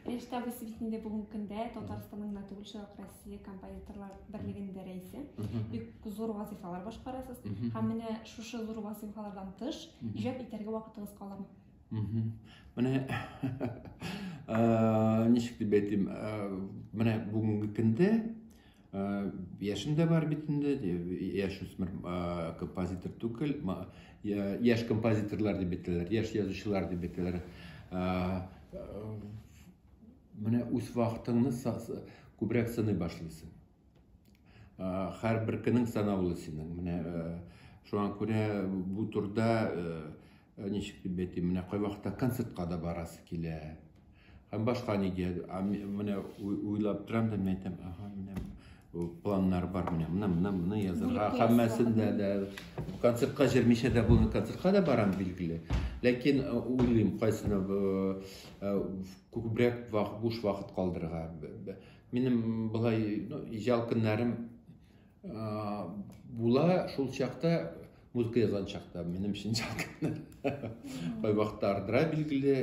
Рәштә Абыйсы бит инде бүгенге көндә Татарстанның гына түгел, шулай ук Россия композиторлар берлегендә рәисе. Бик зур вазифалар башкарасыз. Һәм менә шушы зур вазифалардан тыш иҗат итәргә вакытыгыз каламы? Менә ничек дип әйтим, менә бүгенге көндә Э, яшен дә бар бит инде яшь үсмер э, композитор түгел яшь композиторлар дип әйтәләр яшь язучылар дип әйтәләр э, менә үз вакытыңны күбрәк сыный башлыйсың һәрбер көнең санаулы синең менә шуңа күрә бу турда Ничек дип әйтим, менә кайвакытта концертка да барасы килә. Һәм башка нигә, менә уйлап торам да, мен әйтәм, ага, менә планнар бар, менә менә менә менә язырга, һәммәсен дә дә концертка җөрмичә дә булмый, концертка да барам билгеле. Ләкин уйлыйм, кайсына күбрәк вак буш вакыт калдырырга. Минем былай, ну, ижал көннәрем була шул чакта музыка язган чакта минем өчен кайвакытта ардыра билгеле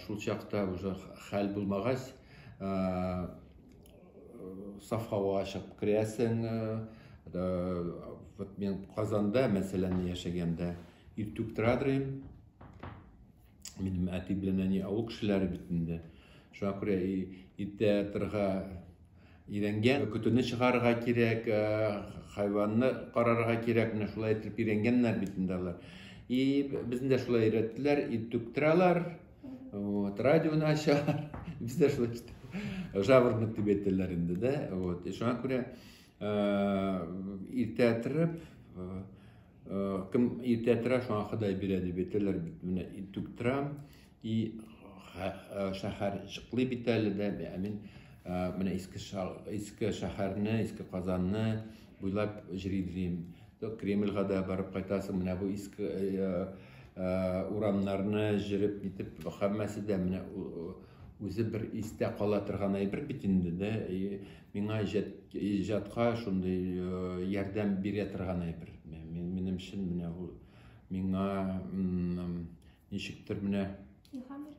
шул чакта уже хәл булмагач саф һавага чыгып керәсең вот мен казанда мәсәлән яшәгәндә иртүк тора минем әти белән әни авыл кешеләре бит инде шуңа күрә иртә торырга өйрәнгән көтүне чыгарырга кирәк э, хайванны карарга кирәк менә шулай итеп өйрәнгәннәр бит инде алар и безне дә шулай өйрәттеләр ит түктерәләр вот радионы ачалар без дә шулай китеп жаворонок дип әйтәләр инде да вот шуңа күрә э, иртә торып э, Э, кем иртә тора, шуңа Ходай бирә дип әйтәләр бит. Менә иртүк торам и э, шәһәр җыклый бит әле дә. Ә мин э, менә иске иске шәһәрне, иске Казанны буйлап җыридрим. То Кремльга да барып кайтасың. Менә бу иске урамнарны җырып битеп, һәммәсе дә менә үзе бер истә кала торган әйбер бит инде дә. Миңа иҗат, иҗатка шундый э, ярдәм бирә торган әйбер. Минем өчен менә ул миңа ничектер менә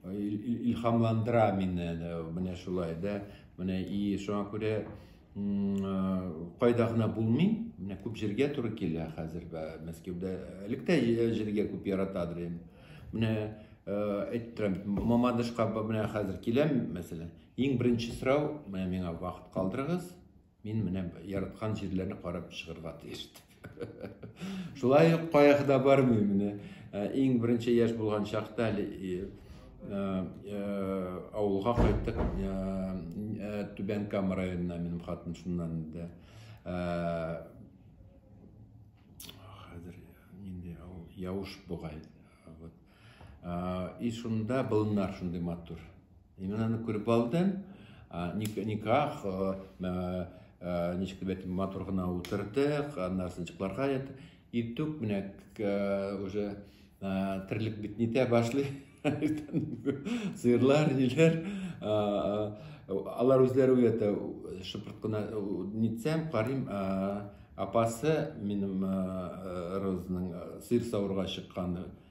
илһамландыра мине менә шулай да менә и шуңа күрә кайда гына булмый менә күп җиргә туры килә хәзер мәскәүдә элек тә җиргә күп яратадыр инде менә әйтеп торам мамадышка менә хәзер киләм мәсәлән Иң беренче сорау, менә миңа вакыт калдырыгыз, мин менә яраткан җирләрне карап чыгырга тиеш дип. Шулай ук каяга да бармый менә. Ә, иң беренче яшь булган чакта әле э, э, авылга кайттык э, Түбән Кама районына минем хатын шуннан инде. Хәзер инде авыл Явыш бугай. Вот. И шунда былыннар шундый матур. Мин аны күреп алдым. Никах, ничек дип әйтим, матур гына утырдык, аннары сынчыкларга ятып, иртүк менә уже терлек бит нитә башлый. Сыерлар, ниләр, алар үзләре уята, шыпырт кына нитсәм, карыйм, апасы минем Розның сыер савырга чыкканы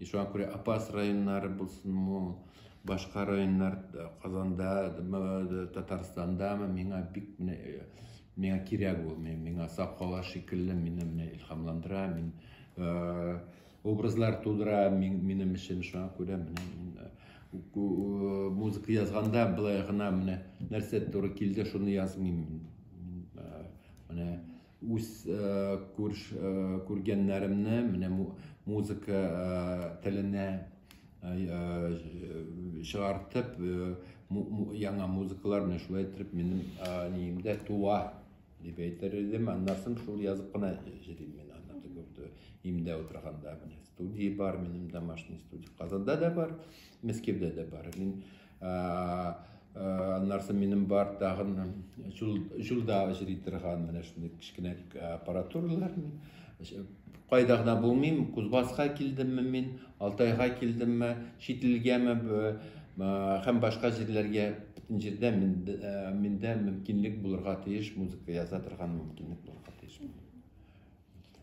И шуңа күрә Апас районнары булсынмы, башка районнар э, Казанда, э, Татарстандамы, миңа бик менә э, миңа кирәк ул, миңа сакала шикелле мине менә илһамландыра, мин образлар тудыра минем өчен, шуңа күрә менә музыка язганда былай гына менә нәрсә туры килде, шуны язмыйм. Менә Үз күргәннәремне менә музыка теленә чыгартып, яңа музыкалар менә шулай итеп минем ниемдә туа, дип әйтер идем. Аннан соң шул язып кына җырлыйм мин аны теге имдә утырганда. Менә студия бар минем, домашний студия. Казанда да бар, Мәскәүдә дә бар. Мин Аннарсы минем бар тагын җулда җыри торган менә шундый кечкенә аппаратуралар. Кайда гына булмыйм, Кузбасска килдемме мин, Алтайга килдемме, чит илгәме һәм башка җирләргә бөтен җирдә миндә мөмкинлек булырга тиеш, музыка яза торган мөмкинлек булырга тиеш.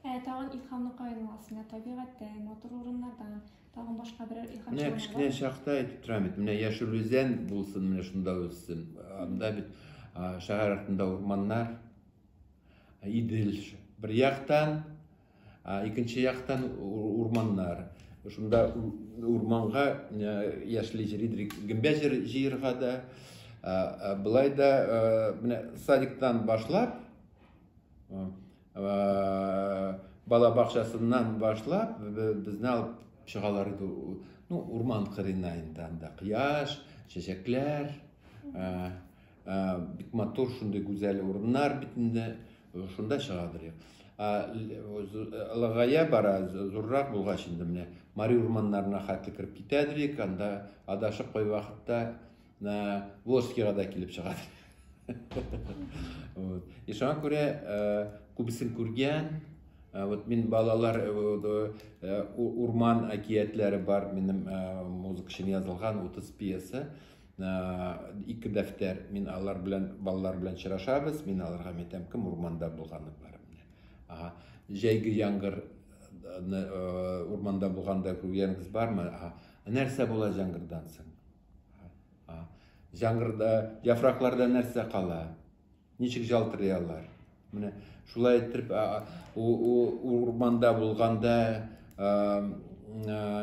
Ә тагын илһамны каян аласың? Табигатьтән, матур урыннардан, Тагын башка берәр илһам Менә чыгармалар. кечкенә чакта әйтеп торам бит, менә яшел үзән булсын, менә шунда үссен. Анда бит а, шәһәр артында урманнар, а, Идел ш- бер яктан, а, икенче яктан у- урманнар. Шунда у- урманга э, яшьли җиридрик гөмбә җыр- җыерга да. А, а, Былай да э, менә садиктан башлап, э, бала бакчасыннан башлап безне алып чыгалар иде ну урман кырыена инде анда кояш чәчәкләр бик матур шундый гүзәл урыннар бит инде шунда чыгадыр лагая бара зуррак булгач инде менә мари урманнарына хәтле кереп китәдер анда адашып кайвакытта на Волжскийга да килеп чыга. вот. И шуңа күрә э, күбесен күргән, э, вот мин балалар э, э, урман әкиятләре бар минем э, музыка өчен язылган 30 пьеса. Э, ике дәфтәр мин алар белән балалар белән очрашабыз, мин аларга әйтәм, кем урманда булганы бар. Ага. Җәйге яңгыр урманда булганда күргәнегез бармы? Нәрсә була җәңгырдан соң? Җангырда, яфракларда нәрсә кала? Ничек җалтырый алар? Менә шулай итеп урманда булганда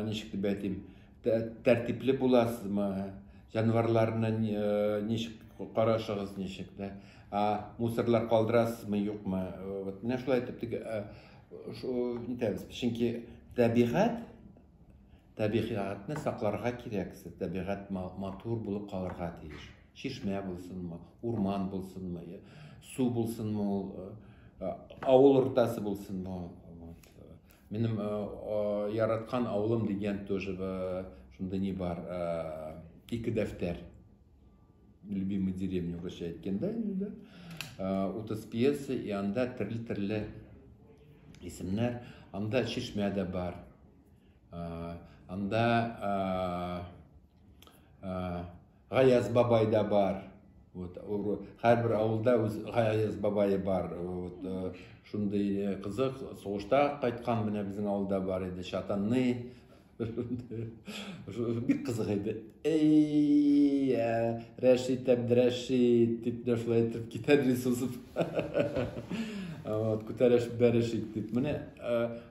ничек дип әйтим, тәртипле буласызмы? Җанварларны ничек карашыгыз ничек дә? Мусорлар калдырасызмы, юкмы? Вот менә шулай итеп итәбез. Чөнки табигать Табигатьне сакларга кирәк, сез табигать матур булып калырга тиеш. Чишмә булсынмы, урман булсынмы, су булсынмы ул, авыл уртасы булсынмы. Вот. Минем яраткан авылым дигән тоже шунда ни бар, ике дәфтәр. Любимый деревня уже әйткәндә инде. Утыз пьеса и анда төрле-төрле исемнәр, анда чишмә дә бар. Анда Гаяз бабай да бар. Вот, һәрбер авылда үз Гаяз бабайы бар. Вот, э, шундый э, кызык, сугышта кайткан менә безнең авылда бар иде, Чатанны. Бик кызык иде. Әй-йә, Рәшит Әбдрәшит, дип дәшләй итеп китә Рисусов. Вот, күтәрәш бәрәшит дип. Менә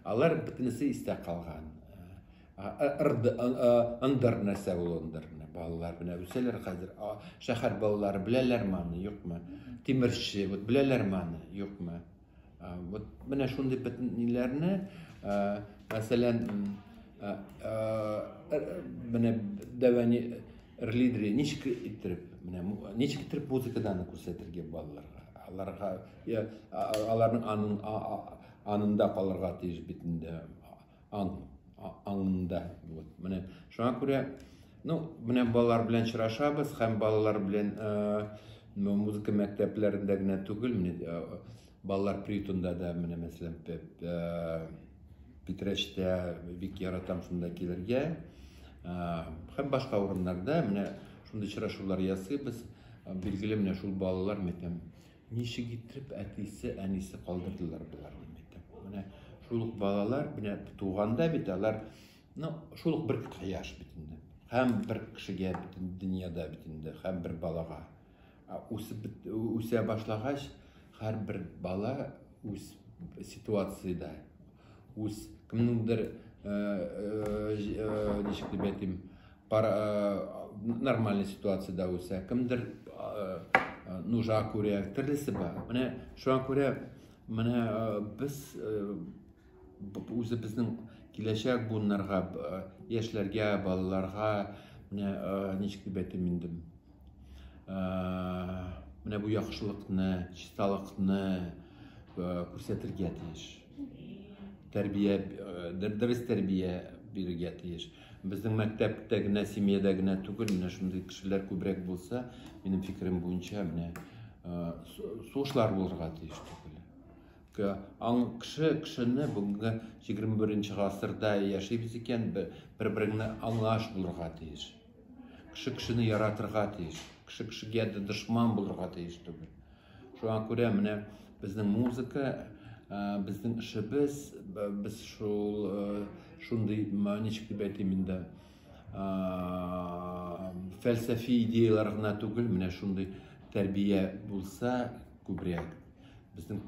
алар бөтенесе истә калган. Ындыр нәрсә ул ындыр. Балалар белән үсәләр хәзер. Шәһәр балалары беләләр маны, юкмы? Тимерче, вот беләләр маны, юкмы? Вот менә шундый бетниләрне, мәсәлән, менә дәвәни рлидри ничек иттереп, менә ничек иттереп музыкадан күрсәтергә балаларга? Аларга аларның анын анында калырга тиеш бит инде. Ан, аңында. Вот, менә шуңа күрә, ну, менә балалар белән чырашабыз, һәм балалар белән э, музыка мәктәпләрендә генә түгел, менә э, балалар приютында да менә мәсәлән э, Питрәчтә бик яратам шунда килергә. Э, һәм башка урыннарда менә шундый чырашулар ясыйбыз. Билгеле менә шул балалар мәктәбе Ничек итеп әтисе, әнисе калдырдылар боларны бит. Менә шул ук балалар менә туганда бит алар ну шул ук бер кояш бит инде. Һәм бер кешегә бит дөньяда бит инде, һәм бер балага. Үсеп үсә башлагач, һәрбер бала үз ситуацияда үз кемнеңдер ничек дип әйтим нормальный ситуацияда үсә кемдер нужа күрә төрлесе бар менә шуңа күрә менә без үзебезнең киләчәк буыннарга яшьләргә балаларга менә ничек дип әйтим инде менә бу яхшылыкны чисталыкны күрсәтергә тиеш тәрбия э, дөрес тәрбия бирергә тиеш безнең мәктәптә генә семьяда генә түгел менә шундый кешеләр күбрәк булса минем фикерем буенча менә э, сугышлар булырга тиеш түгел аң кеше кешене бүгенге егерме беренче гасырда яшибез икән бер береңне аңлаш булырга тиеш кеше кешене яратырга тиеш кеше кешегә дошман булырга тиеш түгел Шуңа күрә менә безнең музыка, э, безнең эшебез, без шул э, шундый ничек дип әйтим инде, э, фәлсәфи идеялар гына түгел, менә шундый тәрбия булса күбрәк, безнең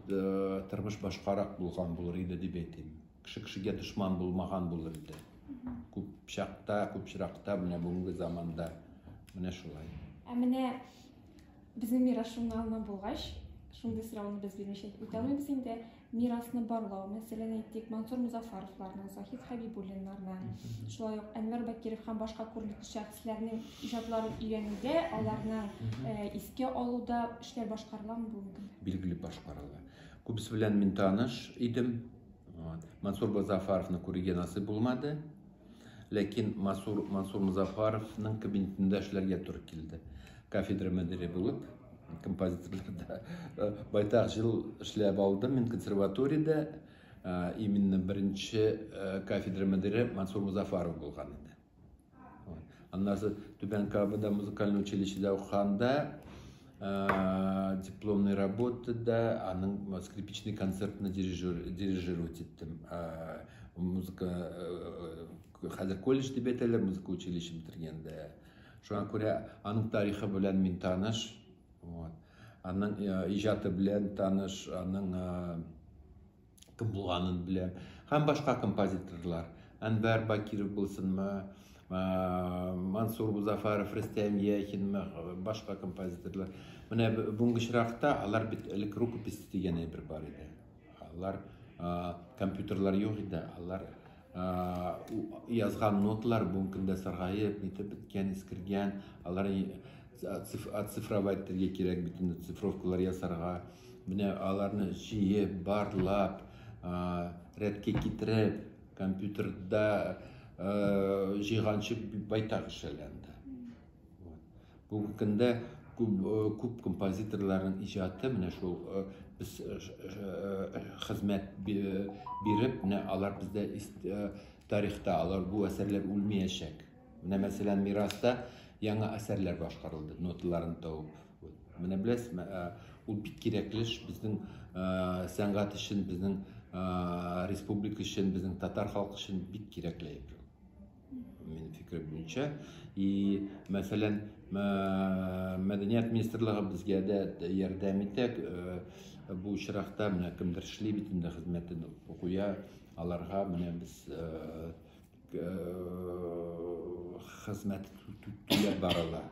тормыш башкарак булган булыр иде дип әйтим. Кеше кешегә дошман булмаган булыр иде. Күп чакта, күп чиракта менә бүгенге заманда менә шулай. Ә менә Безнең мирас журналына булгач, шундый сорауны без белмичә үтә алмыйбыз инде. Мирасны барлау, мәсәлән, әйтик, Мансур Музафаровларның, Заһид Хәбибуллиннарның, шулай ук Әнвәр Бакиров һәм башка күренекле шәхесләрнең иҗатларын өйрәнүдә, аларны э, искә алуда эшләр башкарыламы бу мөмкин? Билгеле башкарыла. Күбесе белән мин таныш идем. Вот. Мансур Музафаровны күрергә насыйп булмады. Ләкин Масур Мансур Музафаровның кабинетында эшләргә туры килде. Кафедра мөдире булып, композиторларда э, байтак жыл эшләп алдым мин консерваториядә. Э, именно беренче э, кафедра мөдире Мансур Музафаров булган иде. Аннары Түбән Кабада музыкаль училищеда укыганда Ә, дипломный работа да, аның скрипичный концертны дирижер, дирижировать иттем. Ә, музыка, ә, э, хәзер колледж дип әйтәләр, музыка училище бетергәндә. Шуңа күрә аның тарихы белән мин таныш. Вот. Аның э, иҗаты белән таныш, аның э, кем булганын белә. Һәм башка композиторлар. Әнвәр Бакиров булсынмы, Мансур Музафаров, Рөстәм Яхинмы, башка композиторлар. Менә бүгенге очракта алар бит элек рукопись дигән әйбер бар иде. Алар компьютерлар юк иде, алар язган ноталар бүгенге көндә саргаеп нитеп беткән искергән алар оцифровать итәргә кирәк бит инде цифровкалар ясарга менә аларны җыеп барлап рәткә китереп компьютерда җыйганчы байтак эшләнгән Бүгенге көндә күп, күп композиторларның иҗаты менә шул без хезмәт биреп, менә алар бездә тарихта алар бу әсәрләр үлмәячәк. Менә мәсәлән мираста яңа әсәрләр башкарылды, ноталарын табып. Менә беләсез, ул бик кирәкле эш безнең сәнгать өчен, безнең республика өчен, безнең татар халкы өчен бик кирәкле. Мин фикер буенча. И, мәсәлән, мәдәният министрлыгы безгә дә ярдәм итә. Бу очракта менә кемдер эшли бит инде хезмәтен куя. Аларга менә без хезмәт түләп барыла.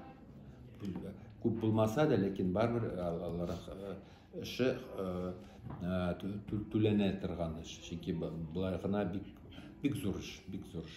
Күп булмаса да, ләкин барыбер алар эше түләнә торган эш. Чөнки былай гына бик бик зур эш, бик зур эш.